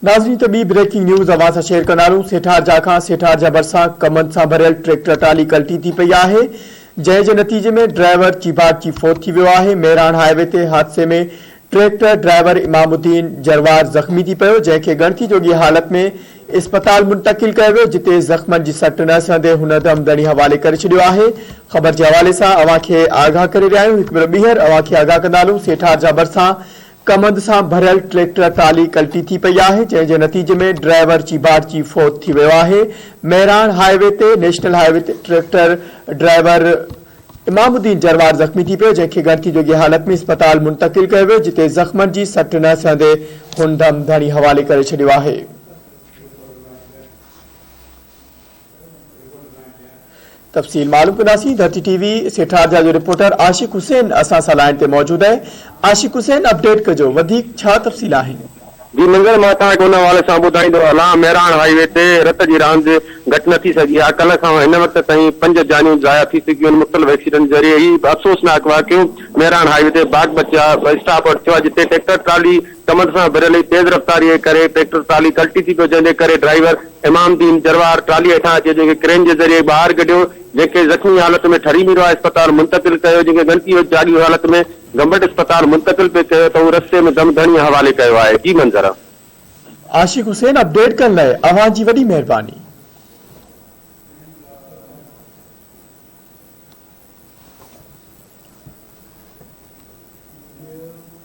ناظرين ته ٻي بريڪنگ نيوز اوهان سان شيئر ڪندارون سيٺار جا کان سيٺار جا ڀرسان ڪمند سان ڀريل ٽريڪٽر ٽالي ڪلٽي ٿي پئي آهي جنهن جي نتيجي ۾ ڊرائيور چيڀاٽجي فوت ٿي ويو آهي مهراڻ هاء وي تي حادثي ۾ ٽريڪٽر ڊرائيور امام الدين جروار زخمي ٿي پيو جنهن کي ڳڻتي جوڳي حالت ۾ اسپتال منتقل ڪيو ويو جتي زخمن جي سٽ نه سهندي هن دم ڌڻي حوالي ڪري ڇڏيو آهي خبر جي حوالي سان اوهان کي آگاهه ڪري رهيا آهيون هڪ ڀيرو ٻيهر اوهان کي آگاهه ڪندارون سيٺار جا ڀرسان ڪمند سان ڀريل ٽريڪٽر ٽالي ڪلٽي ٿي پئي آهي جنهن جي نتيجي ۾ ڊرائيور چيڀاٽجي فوت ٿي ويو آهي مهراڻ هاء وي تي نيشنل هاء وي تي ٽريڪٽر ڊرائيور امام الدين جروار زخمي ٿي پيو جنهن کي ڳڻتي جوڳي حالت ۾ اسپتال منتقل ڪيو ويو جتي زخمن جي سٽ نه سهندي هن دم ڌڻي حوالي ڪري ڇڏيو آهي. تفصيل معلوم ڪنداسين ڌرتي ٽي وي سيٺارجا جو رپورٽر عاشق حسين اسان سان لائين تي موجود اهي عاشق حسين اپڊيٽ ڪجو وڌيڪ ڇا تفصيل آهن. جي منگل مان اسان وٽ ان حوالي سان ٻڌائيندو هلان مهراڻ هاء وي تي رت جي راند گهٽ نه ٿي سگهي آهي ڪلهه کان هن وقت تائين پنج جانيون ضايع ٿي چڪيون آهن مختلف ايڪسيڊنٽ ذريعي هي افسوسناڪ واقعو مهراڻ هاء وي تي باغ بچا اسٽاپ وٽ ٿيو آهي جتي ٽيڪٽر ٽرالي ڪمند سان ڀريل ئي تيز رفتاريء جي ڪري ٽريڪٽر ٽرالي ڪلٽي ٿي پيو جنهن جي ڪري ڊرائيور امام الدين جروار ٽرالي هيٺان اچي جنهن کي ڪرين جي ذريعي ٻاهر ڪڍيو جنهن کي زخمي حالت ۾ ٺري ميرواهه اسپتال منتقل ڪيو جنهن کي ڳڻتي هوت جاڳي حالت ۾ گمبٽ اسپتال منتقل پي ڪيو ته هو رستي ۾ دم ڌڻيء حوالي ڪيو آهي جي منظر. عاشق حسين اپڊيٽ ڪرڻ لاء اوهان جي وڏي مهرباني.